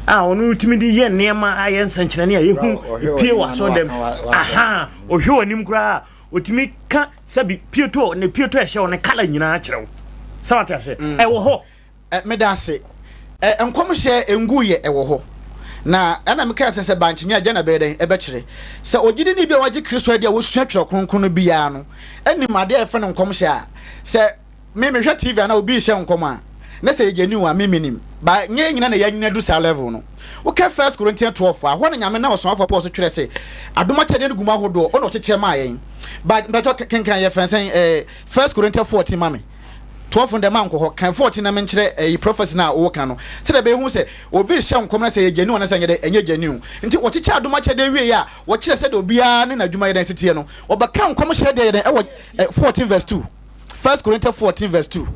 a ɔno retumi de yɛ nneɛma ayɛ nsɛnkyerɛnne a yɛhu pie wɔ asɔdɛm aha ɔhwɛ wɔ anim koraa ɔtumi ka sɛbi pieto ne pieto ɛhyɛ wɔ ne kala nyinaa kyerɛ wo sɛ wate ase mm. ɛwɔ hɔ meda ase nkɔmhyɛ ngu yɛ ɛwɔ hɔ na ɛna mekaa sɛ sɛ bankyenya agya na bɛyɛ dɛn ɛbɛkyerɛ sɛ ɔgyidi ne bi a wagye kristo adi a wɔsua twerɛ kronkron no biara no anim adeɛ a ɛfɛ no nkɔmhyɛ a sɛ Me mehwɛ TV anaa obi rehyɛ nkɔm a na sɛ yɛgya new a me menim but nyɛ yɛn nyina na yɛanyini adu saa level no. Wokɛ First Corinthians twelve a hɔ na Nyame nam Ɔsomafoɔ Paul so twerɛ se adom akyɛdeɛ no gu mu ahodoɔ ɔna ɔkyekyerɛ maa yɛn but mpakyɛw kenkan yɛfrɛ no sɛn ɛɛ First Corinthians fourteen ma me twelve no deɛ mankɔ hɔ kan fourteen na menkyerɛ ɛyi prophecy no a woka no sɛdeɛ ɛbɛyɛ hu sɛ obi rehyɛ nkɔm na sɛ yɛgya new anaa sɛ ɛnyɛ dɛ ɛnyɛ gya new nti wɔkyekyɛ adom akyɛdeɛ wieɛ a wɔkyerɛ sɛdeɛ obiara ne n'adwuma yɛ dɛn siteɛ no wɔbɛka nkɔmhyɛ deɛ yɛ dɛn ɛwɔ fourteen verse two First Corinthians fourteen verse two.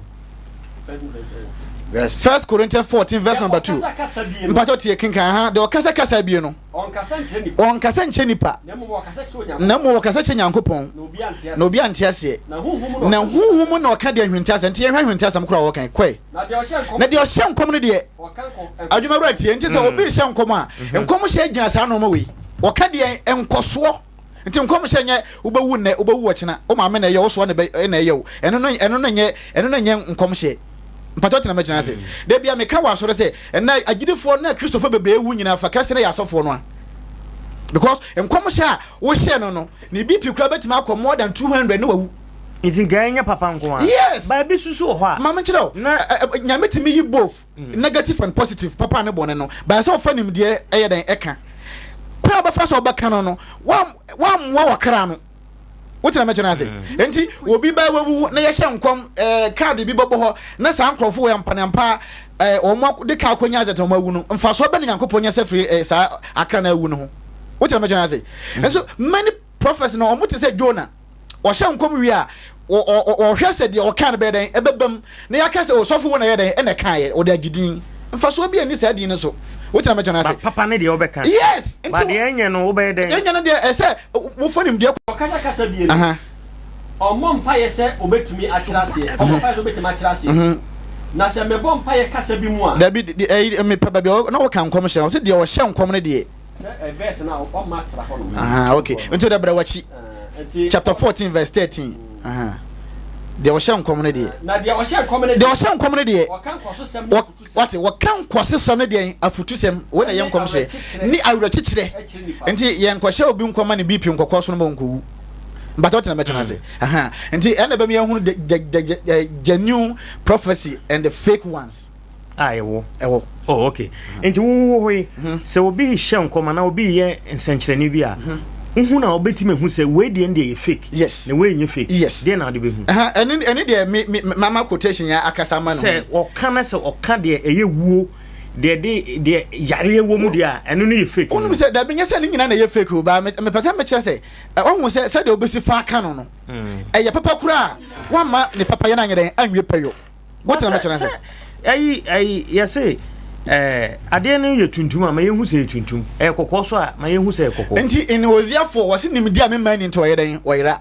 First Corinthians fourteen verse number two. Mpatɔ tie kinkan ha de ɔkasa kasa bie no. Ɔnkasa nkyɛ nipa. Na mmom ɔkasa kyɛ Nyankopɔn. Na obi ante aseɛ. Na huhu mu na ɔka deɛ nhwente asɛm. Nti yɛhwɛ nhwente asɛm koraa wɔkan kɔe. Na deɛ ɔhyɛ nkɔm no deɛ. Adwuma wura tie nti sɛ obi hyɛ nkɔm a nkɔm hyɛ gyina saa nneɛma wei. Wɔka deɛ nkɔsoɔ. Nti nkɔmhyɛ nyɛ wobɛwu nnɛ, wobɛwu ɔkyena, wo maame na ɛyɛ wo, wo soa na ɛyɛ wo. Ɛno no, ɛno no nyɛ, ɛno no nyɛ nkɔmhyɛ. Mpakyɛw tena mɛtena ase. Da bi a meka wɔ asɔre sɛ, ɛnnɛ agyidifoɔ ne Kristofoɔ bebree awu nyinaa fa kɛse no yɛ asɔfoɔ no a. Because nkɔmhyɛ a wohyɛ no no, ne BP koraa bɛtumi akɔ more than 200 ne wawu. Nti nka ɛnyɛ papa nko ara. Yes! Baabi nso so wɔ hɔ a. Ma menkyerɛ wo. Na. Nyame tumi yi both. Negative and positive, papa ne bɔne no, bae sɛ ɔfa nimdeɛ ɛyɛ dɛn ɛka? Kwan a ɔbɛfa so ɔbɛka no no, wammoa w'akra no. Wote na mɛkyɛ no ase? Enti obi bɛɛ wawu na yɛhyɛ nkɔm ɛɛ kaade bi bɛbɔ hɔ na saa nkorɔfo wei ampa ne ampa ɛɛ wɔn de ka akɔnya adze wɔn awu no, mfasoɔ bɛn na Nyankopɔn nya sɛ firi ɛɛ saa akra no awu no ho? Wote na mɛkyɛ no ase? Nso many prophets no wɔn te sɛ Jonah. wɔhyɛ nkɔm wie a, wɔhwɛ sɛ deɛ wɔkaa no bɛyɛ dɛn ɛbɛbam na yɛaka sɛ osɔfo wei na ɛyɛ dɛn ɛna ɛkaeɛ wɔde agye din mfasoɔ bi ɛni saa din no so wotina mɛkyɛ no ase ba papa ne deɛ wobɛka yes ba deɛ ɛnyɛ no wobɛyɛ dɛn ɛnyɛ no deɛ ɛsɛ wofa nimdeɛ ɔkasa kasa bie no ɔmmɔ mpaeɛ sɛ obɛtumi akyerɛ aseɛ ɔmmɔ mpaeɛ sɛ obɛtumi akyerɛ aseɛ na sɛ mebɔ mpaeɛ kasa bi mu a dabi mepɛ baabi na wɔka nkɔm hyɛ ɔsɛ deɛ ɔhyɛ nkɔm no deɛ Ahaa, ok. Nti wode brɛ w'akyi. Chapter fourteen verse thirteen. Ahaa. Deɛ ɔhyɛ nkɔm no deɛ. Na deɛ ɔhyɛ nkɔm no deɛ. Deɛ ɔhyɛ nkɔm no deɛ. Ɔka nkɔsosɛm ne afutusɛm. Wate, wɔka nkɔsosɛm ne deɛ afutusɛm. Wei na ɛyɛ nkɔmhyɛ. Ne awerɛkyekyerɛ. Nti yɛnkɔhyɛ obi nkɔm ma ne BP nkɔkɔ so no ma ɔnkɔwu. Mpata ɔtena mɛtena ase. Mm. Ahaa. Nti ɛna bɛmi ahunu the, the, the, the genuine prophecy and the fake ones. a ɛwɔ. Ɛwɔ. Oh, okay. Mm-hmm. Nti wo wo hɔ yi, mm-hmm. sɛ obi hyɛ nkɔm anaa obi yɛ nsɛnkyerɛnne bi a, mm-hmm. wohu na wobɛtumi ahu sɛ wei deɛ deɛ yɛ fake. Yes. Na wei nyɛ fake. Yes. Deɛ na wode bɛhu. Ɛne ɛne deɛ me me mama quotation yɛ akasa ma no. Sɛ ɔka na sɛ ɔka deɛ ɛyɛ wuo deɛ de deɛ yareɛ wɔ mu deɛ a ɛno no yɛ fake. Wonim sɛ dabi nyɛ sɛ ne nyinaa na ɛyɛ fake o baa mepɛ sɛ mekyerɛ sɛ ɔhu sɛ sɛdeɛ wobɛsi fa aka no no mm. ɛyɛ papa koraa a woama ne papayɛ no anyɛ dɛn anwie pɛ yo. But sɛ sɛ ɛyi ɛyi yɛse ɛɛ adeɛ no yɛ tuntum a ma yɛn hu sɛ yɛ tuntum ɛyɛ kɔkɔɔ so a ma yɛn hu sɛ yɛ kɔkɔɔ. Nti nhoziafoɔ wɔsi nimdi a mema ni nti wɔyɛ dɛn wɔyera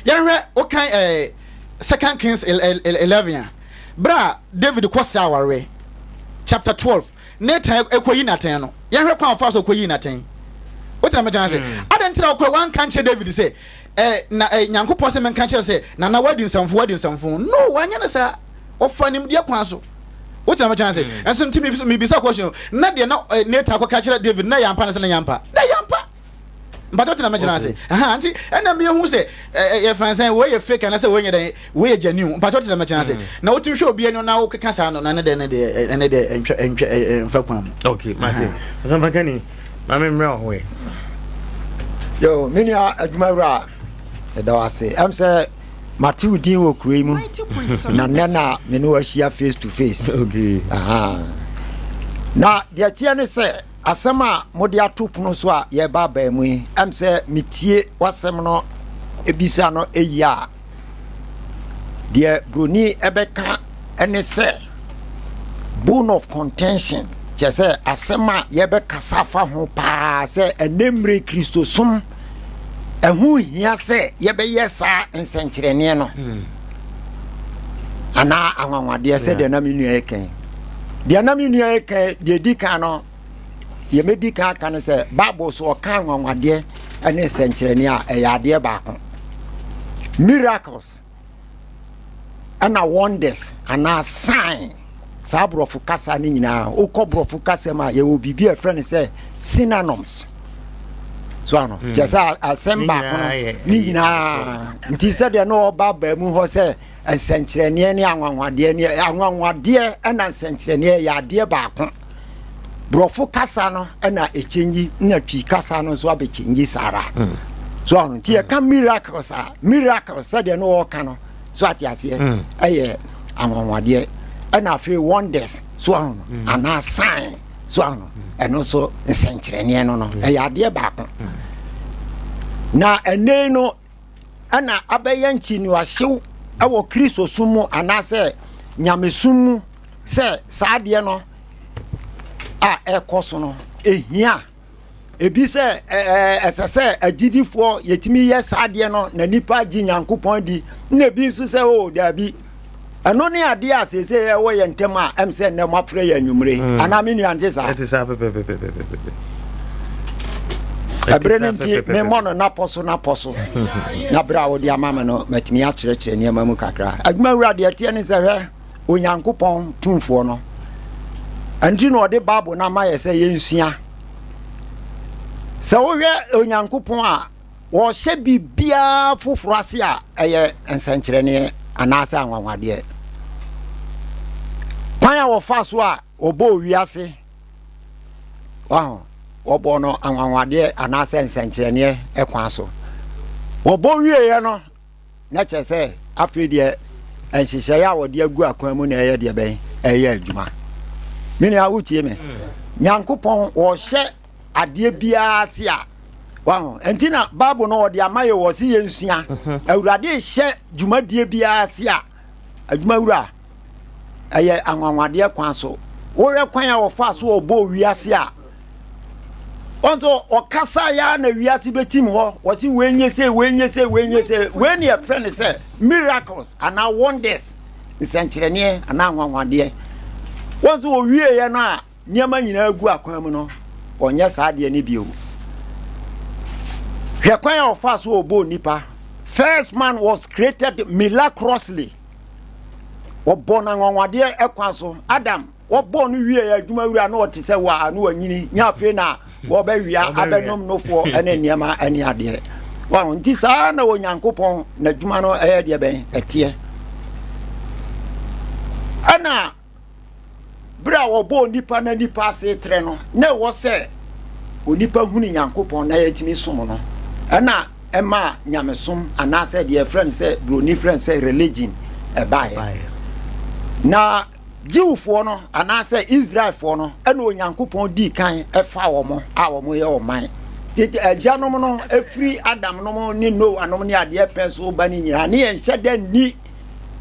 yɛhwɛ wokan ɛɛ second kings eleven a bere a David kɔ sɛ awareɛ chapter twelve Nathan kɔyi n'atɛn no, yɛnhwɛ kwan a ɔfaa so kɔyii n'atɛn. Wote na meka ase? Adɛn nti na ɔkɔe wanka nkyerɛ David sɛ, ɛ, na ɛ, Nyankopɔn sɛ menka kyerɛ sɛ, Nana, woadi nsɛmfo, woadi nsɛmfo? No, wanyɛ no saa. Ɔfaa nimdeɛ kwan so. Wote na meka ase? Ɛnso nti mebisa question, na deɛ na ɛ, Nathan akɔka akyerɛ David no, na ɛyɛ ampa anaasɛ na ɛnyɛ ampa? Na ɛyɛ ampa! mpatsɔ tena me gyina ase ɛha nti ɛna mi ehu sɛ ɛɛ yɛ fansɛn wei yɛ fake anasɛ wei yɛ dɛ wei yɛ genuine mpatsɔ tena me gyina ase mm. na wotu hwɛ obi ɛni na wokeka saa no na ne dɛ ne dɛ ɛne dɛ ɛntwa ɛntwa ɛnfa kwan mu. okay mate ɔsanpa kani maame mmerɛ ɔho yɛ. yo me nua adwuma wura ɛda wo ase ɛm sɛ mate wo din wɔ kuro yi mu na nnɛ na me ne wahyia face to face okay. Aha. na deɛ teɛ ne sɛ Asɛm a mode ato pono so a yɛreba abaa mu yi, ɛm sɛ metie w'asɛm no bisa no yie a, deɛ buroni ɛbɛka ne sɛ bone of contention, kyerɛ sɛ asɛm a yɛbɛkasa fa ho paa sɛ ɛnɛ mmerɛ Kristosom ɛho hia sɛ yɛbɛyɛ saa nsɛnkyerɛnneɛ no hmm. anaa anwanwadeɛ sɛ deɛ na me nua yɛ kan deɛ na me nua yɛ kan deɛ di kan no yɛmɛdi kan aka no sɛ bible so ɔka anwanwadeɛ ne nsɛnkyerɛnneɛ a ɛyɛ adeɛ baako miracles ɛna wonders anaa sign saa borɔfo kasa no nyinaa wokɔ borɔfo kasa mu a yɛwɔ biribi a ɛfrɛ no sɛ synonyms so ano hmm. kyerɛ sɛ asɛm baako no ne nyinaa nti sɛdeɛ na ɔba baa mu hɔ sɛ nsɛnkyerɛnneɛ ne anwanwadeɛ ne anwanwadeɛ ɛna nsɛnkyerɛnneɛ yɛ adeɛ baako Borɔfo kasa no na ɛkyɛngyi na Twi kasa no nso abɛkyɛngyi saa ara. Mm. So ano nti yɛka mm. miracles a miracles sɛdeɛ no wɔka no so ate aseɛ mm. ɛyɛ anwanwadeɛ ɛna afei wonders so ano no anaa sign so ano ɛno nso nsɛnkyerɛnneɛ no no ɛyɛ adeɛ baako na ɛnɛ no na abɛyɛ nkyinoahyew wɔ Kristosom mu anaasɛ nyamesom mu sɛ saa adeɛ no a ɛrekɔ so no, ɛhia. Ebi sɛ ɛsɛ sɛ agyidifoɔ yɛtumi yɛ saa adeɛ no na nipa gye Nyankopɔn di, na ebi nso sɛ o oh, daabi. ɛno ne adeɛ a seesei ɛwɔ yɛn ntam a ɛm sɛ nnɛ moafrɛ yɛ anwummere mm. anaa me nua nte saa ɛberɛ no nti memmɔ no napɔ so napɔ so na berɛ a wode ama me no matumi akyerɛkyerɛ nneɛma mu kakra adwuma wura deɛ ɛteɛ ne sɛ hwɛ onyankopɔn tumfoɔ no ɛnti na ɔde bible no ama yɛ sɛ yɛnsua sɛ wohwɛ onyankopɔn a Wɔhyɛ biribiara foforo ase a ɛyɛ nsɛnkyerɛnne anaasɛ anwanwadeɛ. Kwan a wɔfa so a wɔbɔɔ wiase, waho, wɔbɔɔ no anwanwadeɛ anaasɛ nsɛnkyerɛnneɛ kwan so. Wɔbɔ wieeɛ no, Na kyerɛ sɛ, afei deɛ nhyehyɛeɛ a wɔde agu akwan mu na ɛyɛ deɛ bɛn ɛyɛ adwuma me nua wotie me nyankopɔn wɔhyɛ adeɛ biara se a waho nti na bible no wɔde ama yɛ wɔ se yɛnsua awurade hyɛ dwumadie biara se a adwuma wura ɛyɛ anwanwadeɛ kwan so wohwɛ kwan a wɔfaa so wɔbɔɔ wiase a ɔnso ɔkasa ya na wiase bɛtim hɔ wɔse wɔnyɛ sɛ wɔnyɛ sɛ wɔnyɛ sɛ wei ne yɛfrɛ no sɛ miracles anaa wonders nsɛnkyerɛnneɛ anaa anwanwadeɛ wɔn nso wɔwieeɛ no a nneɛma nyinaa gu akwan mu no ɔnyɛ saa deɛ no bio hwɛ kwan a ɔfaa so ɔbɔɔ nipa first man was created miraculously wɔbɔ no anwanwadeɛ kwan so adam wɔbɔ no wie adwuma wura na ɔte sɛ waa na wanyini nya afei na wɔbɛwea abɛnom nofoɔ ne nneɛma ne adeɛ wɔn nti saa na onyankopɔn n'adwuma no ɛyɛ deɛ bɛn ɛteɛ ɛna Bere a wɔbɔɔ nnipa na nnipa ase trɛ no, na ɛwɔ sɛ onipa hunu Nyankopɔn na yɛatumi som no. Ɛna ɛma nyamesom anaasɛ deɛ ɛfrɛ no sɛ buroni frɛ no sɛ religion ɛbaeɛ. Na Jewfoɔ no anaasɛ Israelfoɔ no ɛna Onyankopɔn dii kan ɛfa wɔn a wɔyɛ ɔman. Tete agyanom no ɛfiri Adam nom ne Noa nom ne adeɛ pɛn so ba no nyinaa ne yɛnhyɛ da nni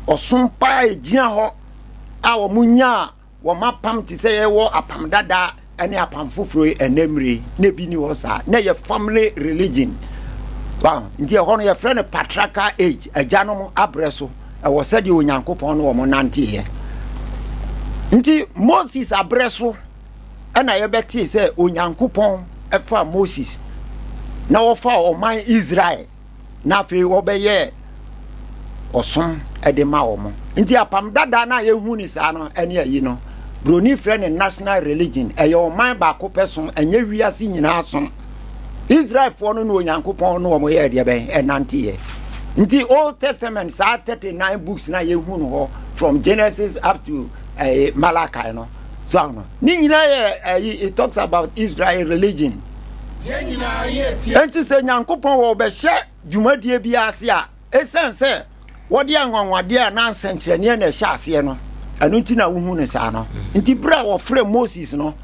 ɔsom paa ɛgyina hɔ a wɔnyaa wɔn apam te sɛ yɛwɔ apam dada ne apam foforɔ yi ɛnɛ mmere na ebi ni hɔ saa na yɛ family religion wow nti ɛhɔ no yɛfrɛ no patriarchal age agyanom abrɛ so ɛwɔ sɛdeɛ onyankopɔn ne wɔn nanteeɛ nti moses abrɛ so ɛna yɛbɛtee sɛ onyankopɔn ɛfa moses na wɔfa ɔman israel na afei wɔbɛyɛɛ ɔsom de ma wɔn nti apam dada no a yɛhu ne saa no ɛne ayi no broni frɛ ne national religion ɛyɛ ɔman baako pɛ som ɛnyɛ wiase nyinaa som israelfoɔ no ne onyankopɔn no wɔn yɛ deɛ bɛn ɛnanteɛ nti old testament saa 39 books na yɛhu no hɔ from genesis up to ɛyɛ eh, malachi no so no ne nyinaa yɛ ɛyi eh, it talks about israel religion Yɛn nyinaa yɛ tia. Enti sɛ Nyankopɔn wɔ ɔbɛhyɛ dwumadie bi ase a, esiane sɛ wɔde anwanwadeɛ anaa nsɛnkyerɛnneɛ na ɛhyɛ aseɛ no, ɛno nti na wohu no saa no. Nti berɛ a wɔfrɛɛ Moses no,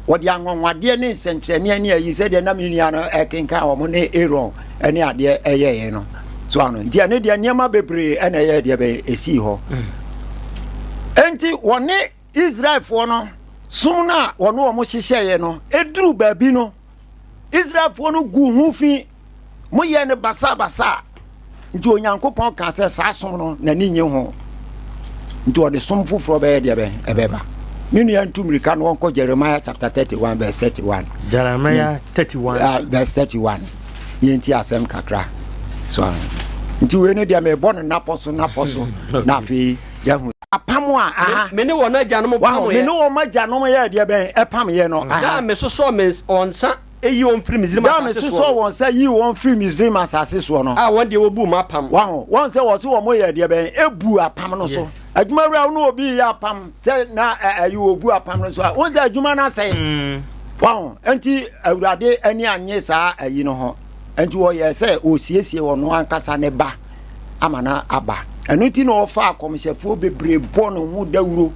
wɔde anwanwadeɛ ne nsɛnkyerɛnneɛ ne ayi sɛdeɛ na me nua no ɛkenkan wɔn ne Aaron ne adeɛ ɛyɛeɛ no. So ano nti ɛne deɛ nneɛma bebree ɛna ɛyɛ deɛ bɛyɛ ɛsii hɔ. Enti wɔne Israelfoɔ no som no a wɔne wɔn hyehyɛeɛ no, ɛduruu baabi no, Israelfoɔ no guu ho fi, moyɛɛ no basaabasaa. Nti Onyankopɔn kaa sɛ, saa som no, n'ani nnye ho. Nti ɔde som foforɔ bɛyɛ deɛ bɛn? Ɛbɛba. Me nua ntu mmirika na wɔnkɔ Jeremiah chapter 31 verse 31. Jeremiah 31. Ah, verse 31. Yɛnti asɛm kakra. So, nti wei no deɛ mebɔ no napɔ so napɔ so na afei yɛahu apam a aha. Me ne wɔn agyanom pamee. Wɔn, me ne wɔn agyanom yɛɛ deɛ bɛn? Ɛpameeɛ no, aha. Da a mesosɔɔ me wɔn nsa yii wɔn firii Misraim asase soɔ no. Da a mesosɔɔ wɔn nsa yii wɔn firii Misraim asase soɔ no. A wɔn deɛ wɔbuu m'apam. Wɔn, wɔn sɛ wɔsi wɔn yɛɛ deɛ bɛn? Ebu apam no so. Adwuma wura wo ne obi yɛ apam sɛ na ɛyi wɔbu apam no so a, wɔn sɛ adwuma no asɛe. Mm. Wɔn, nti awurade ani anye saa ayi no ho. Nti wɔyɛ sɛ wɔsiesie wɔn ankasa ne ba. ama no aba ɛno nti na ɔfa akɔmhyɛfoɔ bebree bɔ no ho dawuro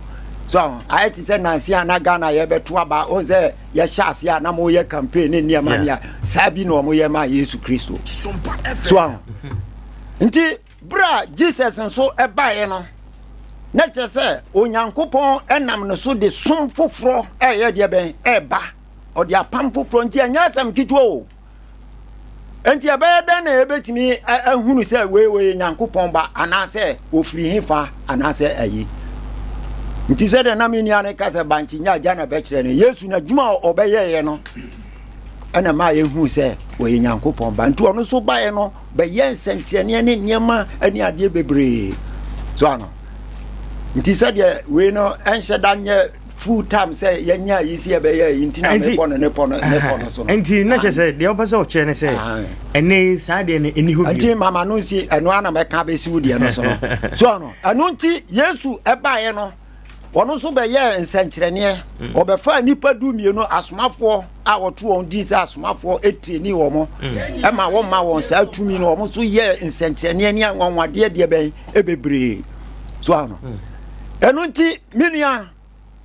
so ayɛ te sɛ nanse a na ghana yɛbɛto aba o sɛ yɛhyɛ ase a na moyɛ campaign ne nneɛma nea saa bi na ɔmoyɛ ma yesu kristo so nti berɛ a jesus nso ɛbaeɛ no na kyerɛ sɛ onyankopɔn ɛnam no so de som foforɔ ɛyɛ deɛ bɛn ɛba ɔde apam foforɔ nti ɛnyɛ asɛm ketewa o Enti ɛbɛyɛ dɛn na yɛbɛtumi ahunu sɛ wei wɔyɛ Nyankopɔn ba anaasɛ wɔfiri he fa anaasɛ ayi? Nti sɛdeɛ na me nua no ka sɛ bankye nya agya na bɛkyerɛ no, Yesu n'adwuma a ɔbɛyɛeɛ no ɛna maa yɛhuu sɛ wɔyɛ Nyankopɔn ba. Nti ɔno nso baeɛ no bɛyɛ nsɛnkyerɛnneɛ ne nneɛma ne adeɛ bebree. So ano? Nti sɛdeɛ wei no ɛnhyɛ da nyɛ full time sɛ yɛnya yi si ɛbɛyɛ yi nti na mepɔ no ne pɔ no ne pɔ no so no nti na kyɛ sɛ deɛ wopɛ sɛ ɔkyerɛ ne sɛ ɛnɛ yi saa deɛ no ɛni hɔ bio nti mama no nsi ɛno ana mɛka bɛsi wo deɛ no so no so no ɛno nti yesu ɛbaeɛ no ɔno nso bɛyɛɛ nsɛnkyerɛnneɛ mm. ɔbɛfaa nnipa du mmienu asomafoɔ a wɔto wɔn din sɛ asomafoɔ tirinii wɔ mo ɛma wɔma wɔn saa tumi no wɔn so yɛ nsɛnkyerɛnneɛ ne anwanwadeɛ deɛ bɛn ɛbebree so ano hmm. ɛno nti me nua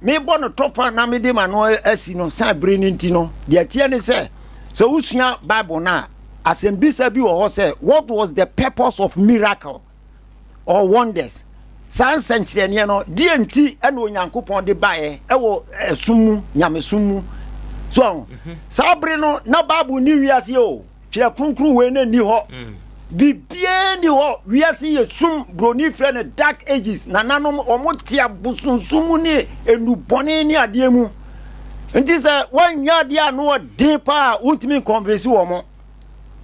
mebɔ no tɔfa na mede ma no asi no san bere no nti no deɛ teɛ ne sɛ sɛ wosua bible no a asɛmbisa bi wɔ hɔ sɛ what was the purpose of miracle or wonders. Saa nsɛnkyerɛnneɛ no, deɛ nti ɛna Onyankopɔn de baeɛ ɛwɔ ɛsom mu, nyamesom mu. So ɔho, mhm. saa bere no, na Bible ni wiase o, twerɛ kronkron wei na ni hɔ. Mm. Biribiara ni hɔ, wiase yɛ sum, broni frɛ no dark ages, nananom wɔn te abosonsom mu ne enubɔne ne adeɛ mu. Nti sɛ wɔnyɛ adeɛ a no ɔden paa, wontumi nkɔnvɛsi wɔn.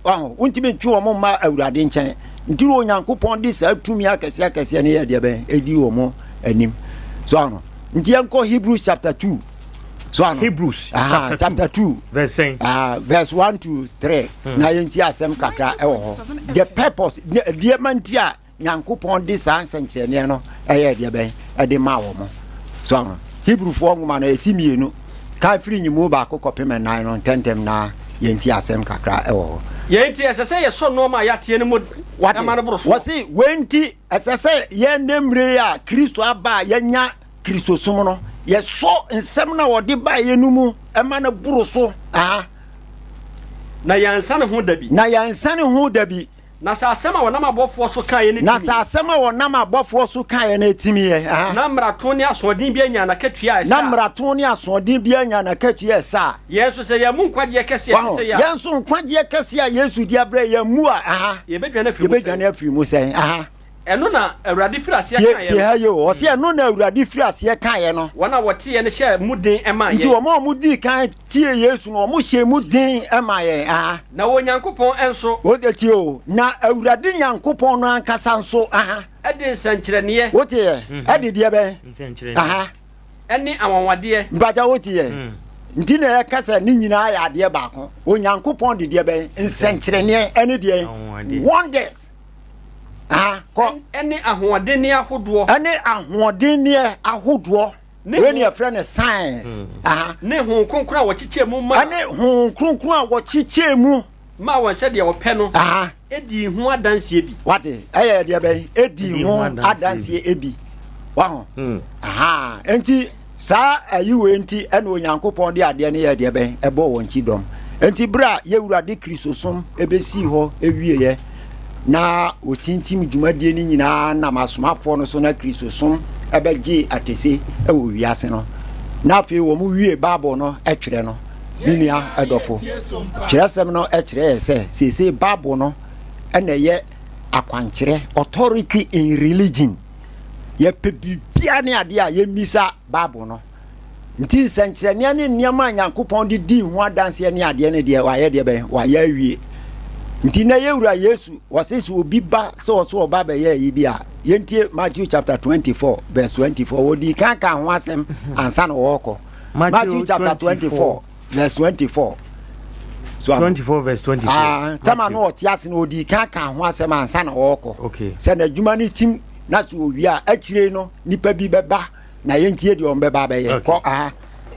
Wontumi ntwe wɔn mma Awurade nkyɛn. Nti na Onyankopɔn de saa tumi akɛse akɛseɛ no yɛ deɛ bɛn ɛdi wɔn anim. So ano. Nti yɛnkɔ Hebrews chapter two. So ano. Hebrews ah, chapter, chapter two, two verse ah, verse one to three. Hmm. Na yɛnti asɛm kakra ɛwɔ hɔ. The purpose deɛ ma nti a Nyankopɔn de saa nsɛnkyerɛnneɛ no ɛyɛɛ deɛ bɛn ɛde maa wɔn so aho Hebrufoɔ nwoma no ɛti mmienu kan firi nyimu baako kɔpem ɛnan no ntɛntɛm na yɛnti asɛm kakra ɛwɔ hɔ. Yei nti ɛsɛ sɛ yɛsɔ nnoɔma a yɛateɛ no mu den ma no boro soɔ. Wɔse wei nti ɛsɛ sɛ yɛn nnɛ mmire yi a Kristo aba a yɛanya Kristosom no yɛsɔ nsɛm no a ɔde baeɛ no mu ma no boro so, aha, Na yɛansa ne ho da bi. Na yɛansa ne ho da bi. Na sɛ asɛm a wɔnam abɔfoɔ so kaeɛ no timiiɛ. Na sɛ asɛm a wɔnam abɔfoɔ so kaeɛ no timiiɛ a. Na mmarato ne asoɔden biara nyaa n'akatua a ɛsɛ a. Na mmarato ne asoɔden biara nyaa n'akatua a ɛsɛ a. Yɛn nso sɛ yɛammu nkwagyeɛ kɛseɛ a ɛte sɛi a. Yɛn nso nkwagyeɛ kɛseɛ a Yesu de abrɛ yɛn, yɛammu a. Yɛbɛdwane afiri mu sɛn? Ɛno na Awurade firi aseɛ Tie, kaeɛ tie no. ha yie o. Ɔse ɛno na Awurade firi aseɛ kaeɛ no. Wɔn a wɔteeɛ no hyɛɛ mu den maa Nti yɛn. wɔn a wɔdii kan tiee Yesu no, wɔhyɛɛ mu den maa yɛn. Aha. Na Onyankopɔn nso. Wote, tie o. Na Awurade Nyankopɔn no ankasa nso, aha. De nsɛnkyerɛnneɛ. Woteɛ? Ɛde deɛ bɛn? Nsɛnkyerɛnneɛ. Aha. Ne anwanwadeɛ. Mpakyɛ woteɛ? Nti na yɛka sɛ ne nyinaa yɛ adeɛ baako. Onyankopɔn de deɛ bɛn? Nsɛnkyerɛnneɛ ne deɛn? Anwanwadeɛ. Wonders. Aha, kɔ. Ɛne ahoɔdenneɛ ahodoɔ. Ɛne ahoɔdenneɛ ahodoɔ. Wei ne yɛfrɛ no science. Hmm. Aha. Ne honhom kronkron a wɔkyekyɛ mu ma. Ɛne honhom kronkron a wɔkyekyɛ mu. Ma wɔn sɛdeɛ ɔpɛ no. Aha. Edi ho adanseɛ bi. Wate, ɛyɛ deɛ bɛn? Edi ho adanseɛ bi. Waho. Hmm. Aha. Enti Saa ayi wei nti ɛna Onyankopɔn de adeɛ no yɛ deɛ bɛn ɛbɔ wɔn ti dɔm. Nti berɛ a yɛwurade Kristosom ɛbɛsii hɔ ɛwieɛ na wɔtintim dwumadie no nyinaa nam asomafoɔ no so na Kristosom ɛbɛgyee atese ɛwɔ wiase no na afei wɔn wie Bible no ɛtwerɛ no me nua ɛdɔfo twerɛsɛm no ɛkyerɛ yɛ sɛ seesei Bible no ɛna ɛyɛ akwankyerɛ authority in religion Yɛpɛ biribiara ne adeɛ a, yɛmmisa Bible no. Nti nsɛnkyerɛnneɛ ne nneɛma a Nyankopɔn de dii ho adanseɛ ne adeɛ no deɛ, wayɛ deɛ bɛn? Wayɛ awie. Nti na yɛ wura Yesu, wɔse sɛ obi ba sɛ ɔso ɔba bɛyɛ ayi bi a, yɛntie Matthew chapter 24 verse 24. Wɔdii kan kaa ho asɛm ansa na wɔrekɔ. Matthew chapter 24 verse twenty four. twenty four verse twenty four. Ah, tẹ́lẹ̀ náà ọ̀tí ase na odi kan kan ho asẹ́m ansa na ọ̀kọ̀. sɛ n'adwuma no tim na so owie a akyire no nipa bi bɛba na yɛntie deɛ ɔmbɛba bɛyɛ kɔ aha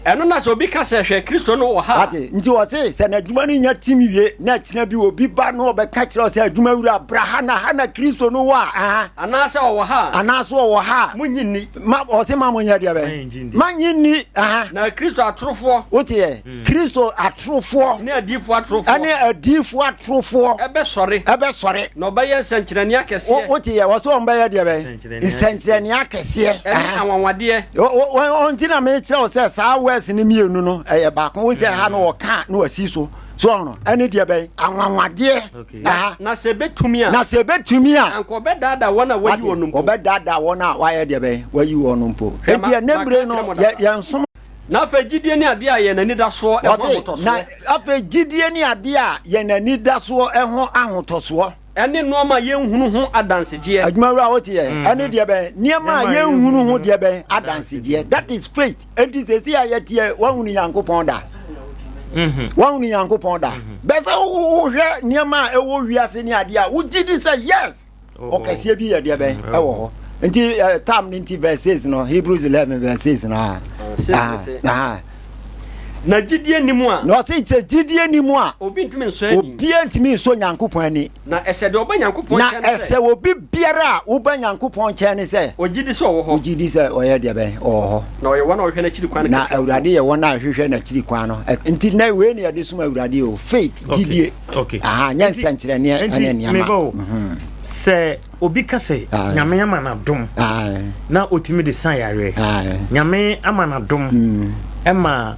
ɛno na sɛ obi ka sɛ hwɛ kristo no wɔ ha ate nti wɔ se sɛ n'adwuma no nya tim wie na akyina bi obi ba no ɔbɛka kyerɛ sɛ adwuma wura bra ha na ha na kristo no wɔ a anaasɛ ɔwɔ ha anaasɛ ɔwɔ ha a monyi nni Ma ɔse ma mo nyɛ deɛ bɛn. Ma nye nni. Na Kristo atorofoɔ. Woteɛ? Hmm. Kristo atorofoɔ. Ne adiifoɔ atorofoɔ. Ɛne adiifoɔ atorofoɔ. Ɛbɛsɔre. Ɛbɛsɔre. Na ɔbɛyɛ nsɛnkyerɛnne akɛseɛ. Woteɛ? Wɔse wɔn bɛyɛ deɛ bɛn. Nsɛnkyerɛnne akɛseɛ. Ɛne anwanwadeɛ. Wɔn ti na mekyerɛ wo sɛ saa wɛs ne mmienu no ɛyɛ baako. Wo sɛ ha no wɔka na wasi so. so ɔho no ɛne deɛ bɛn anwanwadeɛ aha na sɛ ɛbɛtumi a na sɛ ɛbɛtumi a anka ɔbɛdaadaa wɔn a wayi wɔn mpo ɔbɛdaadaa wɔn a wayɛ deɛ bɛn wayi wɔn no mpo ɛti ɛnɛ bere no yɛn som na afei gyidie ne adeɛ a yɛn anidasoɔ ɛho ahotɔsoɔ na afei gyidie ne adeɛ a yɛn anidasoɔ ɛho ahotɔsoɔ Ɛne nnoɔma a yɛnhunu ho adansegyeɛ. Adwumawura wo teɛ? Ɛne deɛ bɛn? Nneɛma a yɛnhunu ho deɛ bɛn? Adansegyeɛ. That is faith. Enti sɛsi a yɛteɛ, woahunu Nyankopɔn da? Mm-hmm. Woahunu Nyankopɔn da? Mm-hmm. Bɛsɛ wohwɛ nneɛma a ɛwɔ wiase ne adeɛ a wogye di sɛ yes, oh, oh. ɔkɛseɛ bi yɛ deɛ bɛn mm-hmm. ɛwɔ hɔ. Nti eh, tam ne nti verse 6 no, Hebrews 11 verse 6 no. Ah, ah, ah. Na gyidie nni mu a. Na ɔse sɛ gyidie nni mu a. Obi ntumi nsɔ ani. Obiara ntumi nsɔ Nyankopɔn ani. Na ɛsɛ deɛ ɔba Nyankopɔn nkyɛn no sɛ. Na ɛsɛ obi biara a woba Nyankopɔn nkyɛn no sɛ. Ɔgye di sɛ ɔwɔ hɔ. Ɔgye di sɛ ɔyɛ deɛ bɛn? Ɔwɔ hɔ. Na ɔyɛ wɔn a wɔhwehwɛ n'akyiri kwan no kakrafoɔ. Na Awurade yɛ wɔn a wɔhwehwɛ n'akyiri kwan no. Nti nnɛ wei na yɛde som Awurade o, faith, gyidie. Aha, nyɛ nsɛnkyerɛnneɛ ne nneɛma. Nti meba o, sɛ. Obi ka sɛ Nyame ama no adom na ɔtumi de sa yareɛ. Nyame ama no adom mm. ma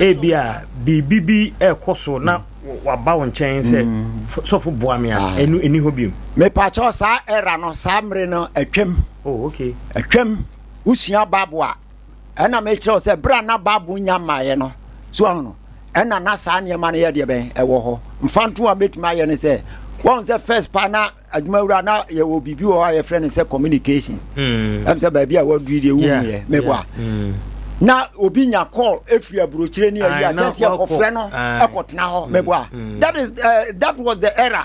ebi a biribi bi ɛrekɔ so na waba wo nkyɛn sɛ mm. sɔfo boa me a ɛnu ɛni hɔ biom. Mepakyɛw saa ɛra no saa mmere no atwam. Oh, okay. Atwam wosua babo a Ɛna mekyerɛ wo sɛ berɛ a na Bible nya mmaeɛ no, so ahu no, ɛna na saa nneɛma no yɛ deɛ bɛn ɛwɔ hɔ. Mfa nto a mɛtumi ayɛ ne sɛ, wɔn sɛ first pa na adwumawura na yɛwɔ biribi wɔ hɔ a yɛfrɛ no sɛ communication. Mm. Ɛm sɛ baabi a wɔaduru deɛ womuiɛ, mebɔ a. Mm. Na obi nya call ɛfiri aburokyire ne ayi a kyɛnse ɛkɔfrɛ no ɛkɔtena hɔ, mebɔ a. That, is, uh, that was the error.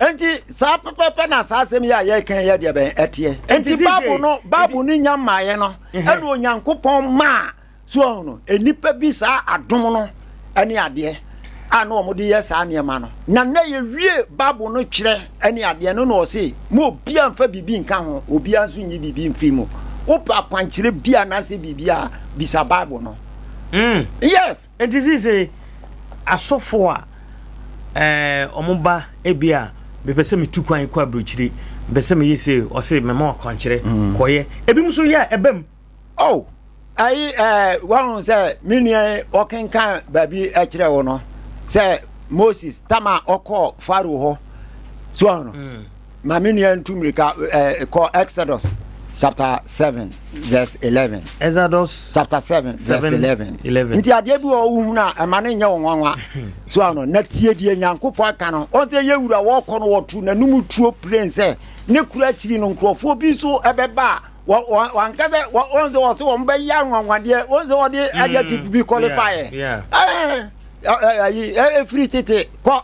Enti saa pɛpɛɛpɛ na saa asɛm yi a yɛreka yi yɛ deɛ bɛn ɛteɛ. Enti Bible no Bible no nya mmaeɛ no ɛna Onyankopɔn maa so ahu no nnipa bi saa adom no ɛne adeɛ a na wɔn de yɛ saa nneɛma no na na yɛwie Bible no twerɛ ɛne adeɛ no na ɔse mo obiara nfa biribi nka ho obiara nso nyi biribi mfiri mu wopɛ akwankyerɛ bi anaasɛ biribi a bisa Bible no mm. yes Enti seesei asɔfo a wɔba ebi a mepɛ sɛ metu kwan kɔ aburokyire, mepɛ sɛ meyɛ sei, ɔse mɛma wo akwankyerɛ, mm. kɔyɛ. Ebi nso yɛ a ɛbam. Oh, ayi ɛɛ wɔn sɛ me nua yi ɔkenkan baabi ɛkyerɛ wo no sɛ Moses tam a ɔkɔɔ Faro hɔ so ɔno. Mm. Ma me nua ntu mmirika kɔ Exodus chapter seven verse eleven. Exodus chapter seven verse eleven. Nti adeɛ bi wɔ wohunu a ɛma ne nyɛ wo nwanwa so ano na tie deɛ Nyankopɔn aka no. Ɔn sɛ yɛ wura wɔkɔ no wɔto n'anum tuo plen sɛ ne kura akyiri no nkurɔfoɔ bi nso ɛbɛba a wanka sɛ ɔn sɛ ɔsɛ wɔn bɛyɛ anwanwadeɛ ɔn sɛ ɔde adjective bi qualify ɛ ɛfiri tete kɔ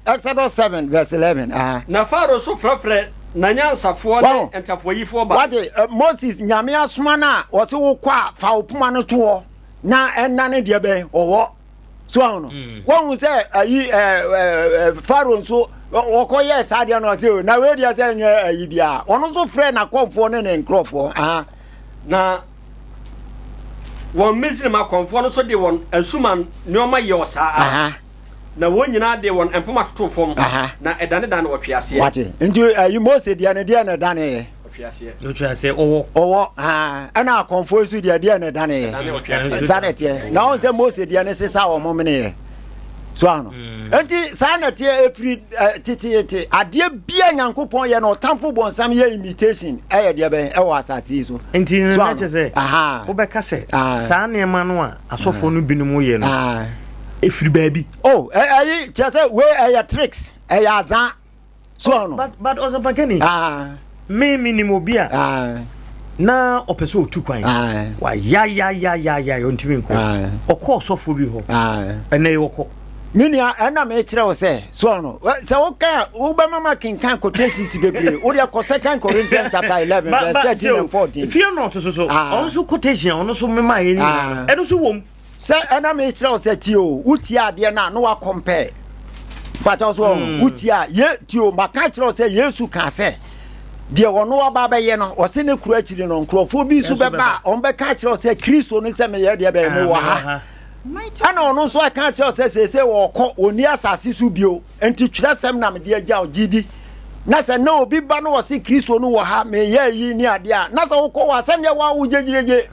Exodus 7 verse 11. Aha. Na Farao nso frɛfrɛ n'anyansafoɔ ne Wow. ntafoayifoɔ ba. Wate eh, Moses nyame asoma no a wɔse wokɔ a fa wo poma no toɔ na ɛnna no deɛ bɛn ɔwɔ so ahu no woahu sɛ ayi eh, eh, eh, Pharaoh nso ɔ- wɔkɔ yɛɛ saa deɛ no ɔse "O, na wei deɛ sɛ nyɛ ayi biaa ɔno nso frɛ n'akɔmfoɔ ne ne nkurɔfoɔ aha Na wɔn Misraim akɔmfoɔ no nso de wɔn asuman nneɛma yɛ ɔsaa ara. aha Na wɔn nyinaa de wɔn mpoma totoo fam, na ɛdanedane ɔtweaseɛ. Wate? Nti ayi Mose deɛ no deɛ na ɛdaneeɛ. Ɔtweaseɛ. Ɔwɔ. Ɔwɔ. Ɛna akɔmfoɔ nso deɛ deɛ na ɛdaneeɛ. Saa na ɛteɛ. Na wɔn sɛ Mose deɛ no sesa wɔn meneeɛ. So ano. Mm. Nti saa na ɛteɛ efiri teteete adeɛ bia Nyankopɔn yɛ na ɔtamfo bɔnsam yɛ imitation ɛyɛ deɛ bɛn ɛwɔ asase yi so. Nti na kyɛ sɛ wobɛka sɛ saa nneɛma no a asɔfoɔ no binom yɛ no ɛfiri baabi. oh ɛyi kyerɛ sɛ wei ɛyɛ tricks ɛyɛ azaa so oh, no but, but ɔsɛmpakani me menim obi a na ɔpɛ sɛ ɔtu kwan wayayayayaya ɔntumi nkɔ ɔkɔ ɔsɔfoɔ bi hɔ ɛnɛ ɔkɔ Me nua, ɛna mekyerɛ wo sɛ, so ɔno, sɛ woka a, wobɛma ma kenkan quotations bebree. Wo deɛ kɔ Second Corinthians chapter eleven verse thirteen and fourteen. Fear not so so. Ah. Ɔno so quotation ɔno so mema yɛ ni. Ah. Ɛno so wɔm. Sɛ ɛna mekyerɛ wo sɛ tie o, wotie adeɛ no a na wakɔmpɛ. Pata so ɔho, hmm. wotie a, ye tie o, maka kyerɛ wo sɛ Yesu ka sɛ, deɛ ɔno aba bɛyɛ no ɔse ne kuro akyiri no nkurɔfoɔ bi nso bɛba a ɔmbɛka kyerɛ wo sɛ kristo no sɛ meyɛ deɛ bɛyɛ mewɔ ha Ɛnna ɔno nso ka kyerɛɛ wo sɛ seesei ɔrekɔ, ɔnni asase so bio, enti twerɛsɛm na mede agya wo, gye di. Na sɛ na obi ba na ɔse Kristo no wɔ ha, meyɛ eyi ne adeɛ a, na sɛ wokɔ hɔ a, sɛdeɛ wo a wo gyegyeregye.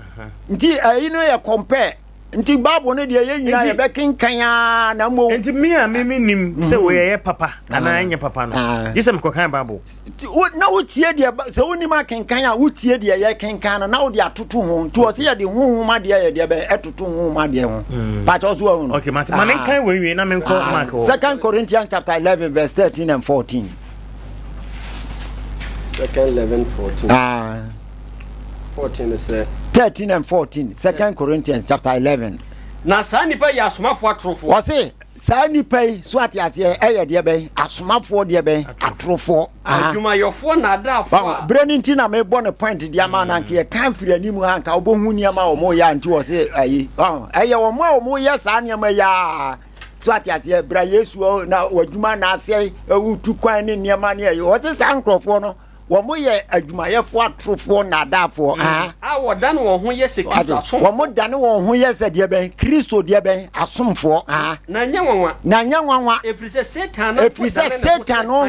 Nti ɛyi no yɛ compare. Nti Bible no deɛ yɛn nyinaa yɛbɛkenkan ara na mmom. Nti me a me mennim sɛ wei ɛyɛ papa anaa ɛnyɛ papa no, gye sɛ mekɔkan Bible. Nti wo na wotie deɛ ba sɛ wonim akenkan a wotie deɛ yɛkenkan no na wode atoto ho nti ɔse yɛde honhom adeɛ yɛ deɛ bɛ ɛtoto honhom adeɛ ho mm. pakyɛ ɔso ahu no okay, ma ah. menkan wɔ nwie na menkɔ ah. mark hɔ second corinthians chapter 11 verse 13 and 14 second 11 14 ah. 14 is uh, 13 and 14 second yeah. corinthians chapter 11 na saa nnipa yɛ asomafoɔ atorofoɔ ɔse Saa nnipa yi, so wate aseɛ, yɛ deɛ bɛn? Asomafoɔ deɛ bɛn? Atorofoɔ. Aha. Adwumayɔfoɔ nadaafoɔ a. Wahu? Berɛ no nti na mebɔ no point de ama na nka yɛkan firi anim ha nka wobɛhu nneɛma a wɔyɛ a nti wɔ se ayi. Wahu? Ɛyɛ wɔn a wɔyɛ saa nneɛma yi a, so wate aseɛ, bra Yesu na w'adwuma na asɛe, wotu kwan ne nneɛma ne ayi. Wɔte saa nkurɔfoɔ no, Wɔn yɛ adwumayɛfoɔ atorofoɔ nnaadaafoɔ. Mm. A wɔdane wɔn ho yɛ sɛ Kristo asomfoɔ. Wɔn dane wɔn ho yɛ sɛ deɛ bɛn Kristo deɛ bɛn asomfoɔ. Na nyɛ nwanwa. Na nyɛ nwanwa. Ɛfiri sɛ Satan no ɛfiri sɛ Satan no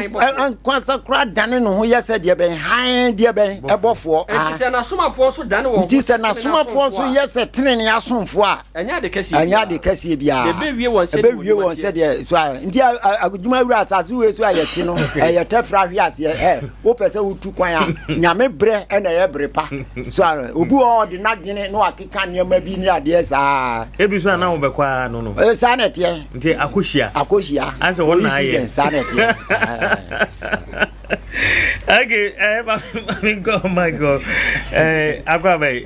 nkwasa kora dane ne ho yɛ sɛ deɛ bɛn hann deɛ bɛn ɛbɔfoɔ. Ɛfiri sɛ n'asomafoɔ nso dane wɔn ho. Nti sɛ n'asomafoɔ nso yɛ sɛ tenenee asomfoɔ a. Ɛnyɛ ade kɛseɛ biara. Ɛnyɛ ade kɛseɛ biara. Ɛbɛwie wɔn sɛdeɛ wɔn adwuma teɛ. Sɛdeɛ, so a, nti adwuma wura asase wei so a yɛte no, ɛyɛ tɛfra ahwe aseɛ. Ɛ, wopɛ sɛ wotu kwan a, nyame berɛ ɛna ɛyɛ bere pa. So a, obi wɔ hɔ ɔde n'adwene na wakeka nneɛma bi ne adeɛ saa. Ebi so a na wobɛkɔ a no no. Ee, saa na ɛteɛ. Nti akɔhyia. Akɔhyia. Asɛ wɔn na ayɛ. Saa na ɛteɛ. okay, eh, mami nkɔ mami nkɔ eh, akɔ abɛyi.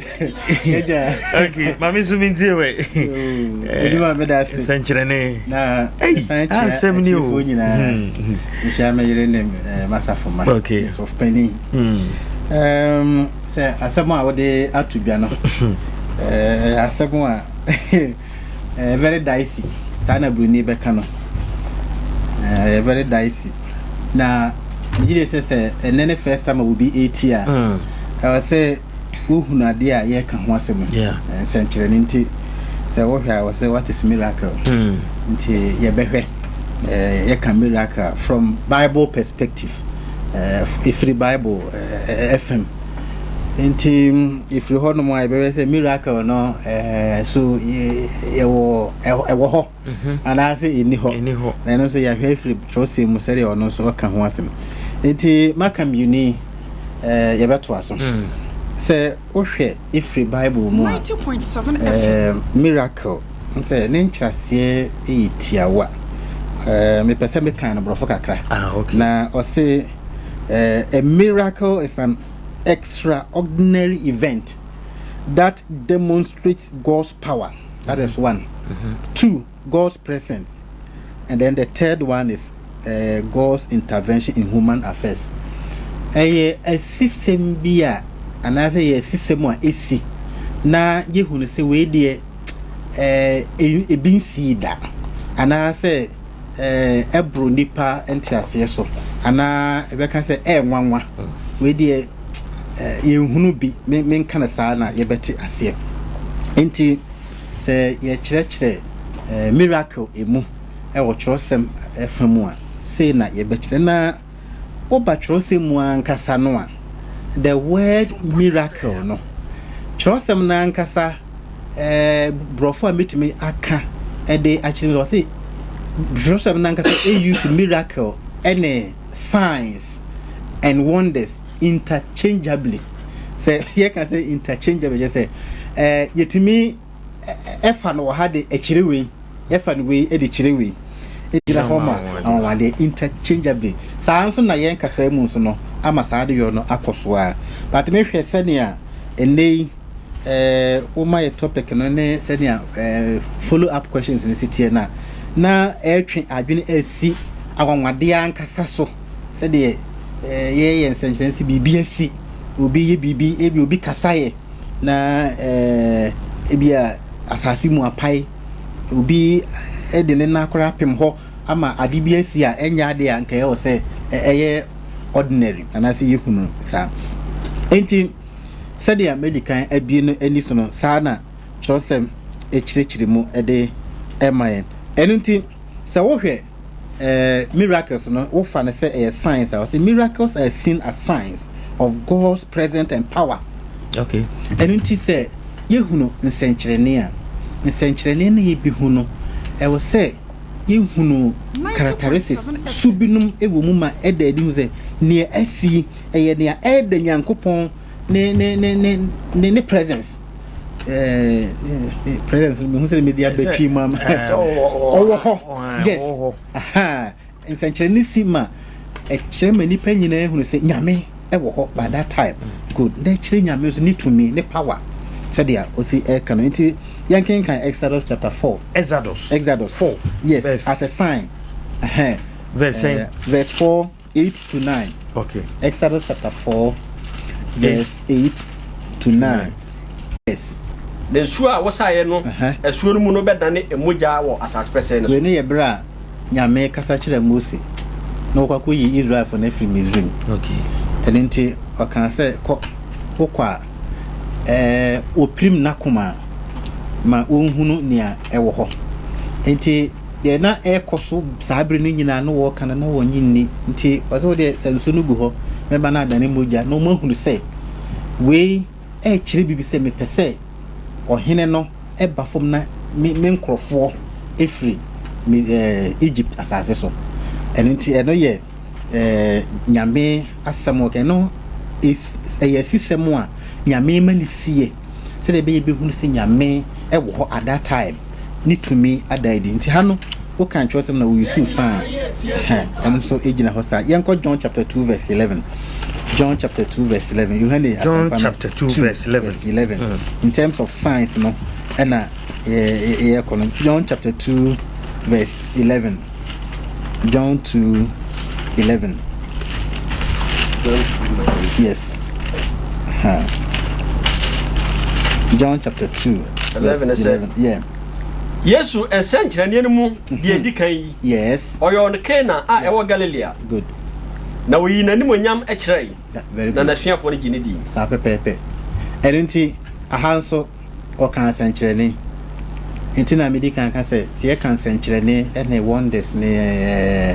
Ɛja. Okay, mami nso mi ntie wɛ. Ebi ma mi da ase. Nsɛnkyerɛnne. Na ɛsan kyerɛ asɛm ni o. Ɛtifo nyinaa. Nhyia mi yere ne masafo ma. Okay. Sɔfpɛni. Sɛ asɛm a wɔde ato dwa no, asɛm a. ɛyɛ very dicey saa na buroni bɛka no ɛyɛ very dicey na megye de sɛ sɛ ɛnɛ ne first time a obi ɛti a mm. ɛwɔ sɛ wohunu adeɛ a yɛreka ho asɛm no nsɛnkyerɛnne nti sɛ wohwɛ a wɔ sɛ what is miracle mm. nti yɛbɛhwɛ yɛka miracle from bible perspective ɛfiri bible ɛfam Nti ɛfiri hɔ nom a yɛbɛbɛ sɛ miracle no eh, so ɛwɔ hɔ mhm. anaasɛ ɛni hɔ na ɛno nso yɛahwɛ afiri twerɛsɛm mu sɛdeɛ ɔno nso ɔka ho asɛm nti maka mmiuni eh, yɛbɛtoa so mm. sɛ wohwɛ ɛfiri bible mu a eh, miracle sɛ ne nkyerɛseɛ yɛ tiawa mepɛ sɛ meka no borɔfo kakra ah, na ɔse a miracle is an extraordinary event that demonstrates God's power. That is one. Mm-hmm. Two, God's presence. And then the third one is uh, God's intervention in human affairs. Ɛyɛ asisɛm bi a anaasɛ ɛyɛ asisɛm a esi na yɛhunu sɛ wei deɛ ɛɛ ebi nsii da anaasɛ. ɛboro nnipa nteaseɛ so anaa ɛbɛka sɛ ɛyɛ nwanwa wei deɛ yɛnhunu bi menka no saa na yɛbɛte aseɛ nti sɛ yɛkyerɛkyerɛ miracle ɛmu ɛwɔ twerɛsɛm ɛfa mu a sei na yɛbɛkyerɛ na Woba kyerɛwsɛm mu ankasa no a, the word miracle no, kyerɛwsɛm no ankasa Borɔfo a metumi aka de akyerɛ mu, ɔse kyerɛwsɛm no ankasa use miracle ne signs and wonders interchangeably. Sɛ yɛka sɛ interchangeably, kyerɛ sɛ yɛtumi ɛfa no wɔ ha de ɛkyerɛ wei, ɛfa no wei de kyerɛ wei. Ɛgyina hɔ ma anwanwadeɛ, interchangeably. Saa nso na yɛn kasaa mu nso no ama saa adeyɔ no akɔ so ara. But me hwɛ sɛnea ɛnnɛ yi wo ma yɛ topic no ne sɛnea follow up questions no si teɛ no a, na ɛretwe adwene asi anwanwadeɛ ankasa so sɛdeɛ yɛyɛ nsɛnkyerɛnse biribi asi, obi yɛ biribi, ebi obi kasaeɛ. Na ebia asase mu apae, obi de ne nan koraa apem hɔ ama ade bi asi a ɛnyɛ ade a nka ɛwɔ sɛ ɛyɛ ordinary anaasɛ yɛhu no saa. Enti sɛdeɛ madi kan abie no ani so no, saa na twerɛsɛm kyerɛkyerɛ mu de ɛma yɛn. Ɛno nti sɛ wohwɛ Eh, miracles no, wofa no sɛ ɛyɛ signs a? Ɔse miracles are seen as signs of God's presence and power. Okay. Ɛno nti sɛ yɛhunu nsɛnkyerɛnne a, nsɛnkyerɛnne no yɛbi hu no, ɛwɔ sɛ yɛhunu characteristics su binom wɔ mu ma ɛda adi hu sɛ nea asi ɛyɛ nea ɛda Nyankopɔn ne ne ne ne ne presence. presence no mehu sɛ mede abɛtwi mu ama sɛ ɔwɔ hɔ yes nsɛnkyerɛnne si ma ɛkyerɛ ma nnipa nyinaa hunu sɛ nyame ɛwɔ hɔ by that time good na ɛkyerɛ nyame nso ne tumi ne power sɛdeɛ ɔsi ɛka no nti yɛnkenkan exodus chapter 4 exodus exodus 4 yes verse. as a sign verse, uh, verse 4 Eight to nine, Okay. Exodus chapter four, verse eight to nine. Yes. Na nsuo a wosaeɛ no, Ɛhɛn. asuo no mu no bɛdane mogya wɔ asase pɛsɛɛ no Wei so. no yɛ berɛ a Nyame kasa kyerɛɛ Mose na wɔkɔ akɔyi Israelfoɔ no afiri Misraim. Okay. Ɛno nti ɔkaa sɛ, Kɔ, wokɔ a, ɛɛ, wɔpirim n'akoma a, ma ɔnhunu nea ɛwɔ hɔ. Enti Deɛ na ɛrekɔ so saa bere no nyinaa no wɔreka no na wɔnnye nni. Nti ɔsɛ wo deɛ sɛ nsuo no gu hɔ na ɛba no adane mogya na wɔahunu sɛ wei ɛrekyerɛ biribi sɛ mepɛ sɛ ɔhene no ba fam na me me nkurɔfoɔ firi me ɛɛ Egypt asase so. Ɛno nti ɛno yɛ ɛɛ nyame asɛm ɔka ɛno ɛyɛ asisɛm a nyame ma ne sie. sɛdeɛ ɛbɛyɛ bɛhunu sɛ Nyame wɔ hɔ at that time, ne tumi ada adi. Nti ha no woka ntwerɛsɛm na wo use sign, ɛno nso gyina hɔ saa. Yɛnkɔ John chapter 2 verse 11. John chapter 2 verse 11. Yohane John chapter 2 verse 11. Verse 11. Mm. In terms of signs no, ɛna yɛkɔ no. John chapter 2 verse 11. John 2 11. John 2 9. Yes. Huh. John chapter 2. 11 verse 11. Yeah. Yesu nsɛnkyerɛnneɛ no mu mm-hmm. deɛ ɛdi kan yi. Yes. Ɔyɛ ɔno Kana a ɛwɔ Galilea. Good. Na ɔyi n'animonyam kyerɛe. Very good. Na n'asuafoɔ no gye ne di. Saa pɛpɛɛpɛ. Ɛno nti, aha nso Wɔkaa nsɛnkyerɛnne. Enti na medi kan ka sɛ, sɛ yɛka nsɛnkyerɛnne ne wonders ne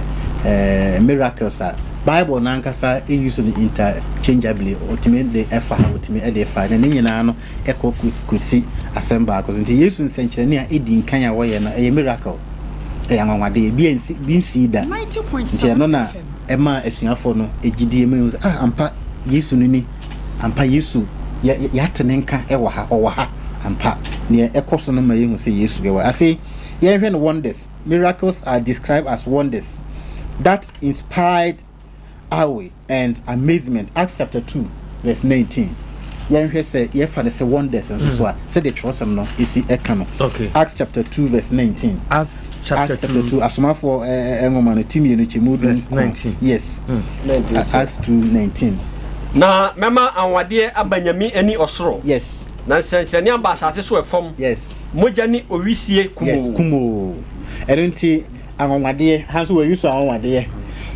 miracles a, Bible no ankasa use no interchangeably. Otumi de fa ha, otumi de fa ha, na ne nyinaa no kɔ kosi asɛm baako so. Nti Yesu nsɛnkyerɛnne a edi nkan a wɔyɛ no, ɛyɛ miracle. Ɛyɛ anwanwade. Ebi ansi, bi nsii da. Nti ɛno na ɛmaa asuafo no gyidie ma ehu sɛ, ah, ampa Yesu no ni. Ampa, Yesu, yɛ, yɛ, yɛate Ne nka wɔ ha. Ɔwɔ ha. Ampa. Nea ɛkɔ so no ma yɛhu sɛ Yesu yɛ wɔ ha. Afei, yɛnhwɛ no wonders. Miracles are described as wonders that inspired awe and amazement, Acts chapter two, verse nineteen. Yɛnhwɛ sɛ yɛfa no sɛ wonders nso so a, sɛdeɛ twerɛsɛm no si ka no. Okay. Acts chapter two, verse nineteen. As chapter Acts chapter two. two asomafoɔ ɛ- ɛ- ɛ- nwoma no ti mmienu kyɛ mu du Verse nkron. 19. yes Na ɛdin A- sɛ acts 2 19 Na mɛma anwanwadeɛ aba nyame ani ɔsoro, yes na nsɛnkyerɛnne aba asase so ɛfam, yes mogya ne owisie yes kumoo. kumoo ɛno nti anwanwadeɛ ha nso wɔayi so anwanwadeɛ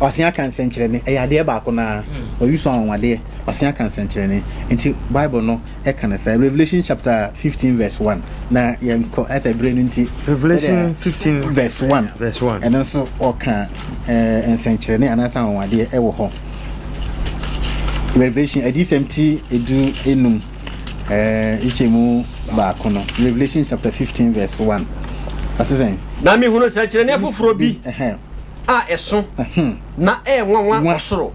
ɔse aka nsɛnkyerɛnne ɛyɛ adeɛ baako no ara wɔayi so anwanwadeɛ ɔse aka nsɛnkyerɛnne nti bible no ɛka no saa. Revelation chapter fifteen verse one na yɛn kɔ ɛsɛ bere no nti. Revelation fifteen verse one verse one ɛno nso ɔka ɛɛ nsɛnkyerɛnne anaasɛ anwanwadeɛ ɛwɔ hɔ. Revelation adiyisɛm ti edu enum ɛɛ nkyɛmu baako no Revelation chapter fifteen verse one ɔsesɛn. Na mehunu nsɛnkyerɛnne foforɔ bi a ɛso na ɛyɛ nwanwa wɔ soro.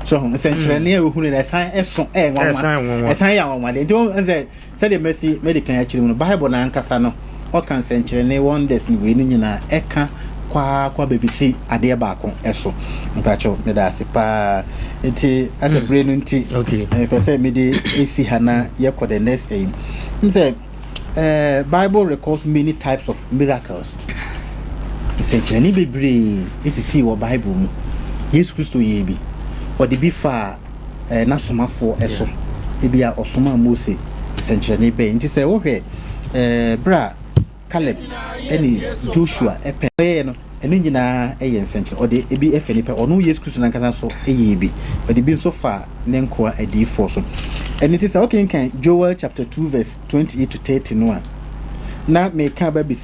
so nsɛnkyerɛnne hmm. a ohunu na ɛsan ɛso ɛyɛ nwanwa ɛsan yɛ nwanwa de nti wɔn sɛ sɛdeɛ mɛsi mɛde kan akyire mu no bible na ankasa no ɔka nsɛnkyerɛnne wonders ne wei ne nyinaa ɛka kwaa kwa baabi si adeɛ baako ɛso mpakyɛw meda ase paa nti asɛ hmm. bere no nti ɛpɛ sɛ mede esi ha na yɛkɔ the next ɛyi m sɛ Bible records many types of miracles. Nsɛnkyerɛnne bebree sisii wɔ Bible mu. Yesu Kristo yɛɛ bi. Ɔde bi faa eh, n'asomafoɔ eh, so. Ebi a ɔsomaa Mose nsɛnkyerɛnne bɛn nti sɛ wohwɛ eh, berɛ a Caleb ne Joshua eh, pɛ. Ɔyɛɛ no, Ne nyinaa yɛ nsɛnkyerɛ. Ɔde ebi fa nnipa, ɔno Yesu Kristo no ankasa nso yɛɛ bi. Ɔde ebi nso fa ne nkoa adiyifoɔ so. Ɛno nti sɛ wokenkan Joel chapter two verse twenty eight to thirty no a, na meka aba abɛsi.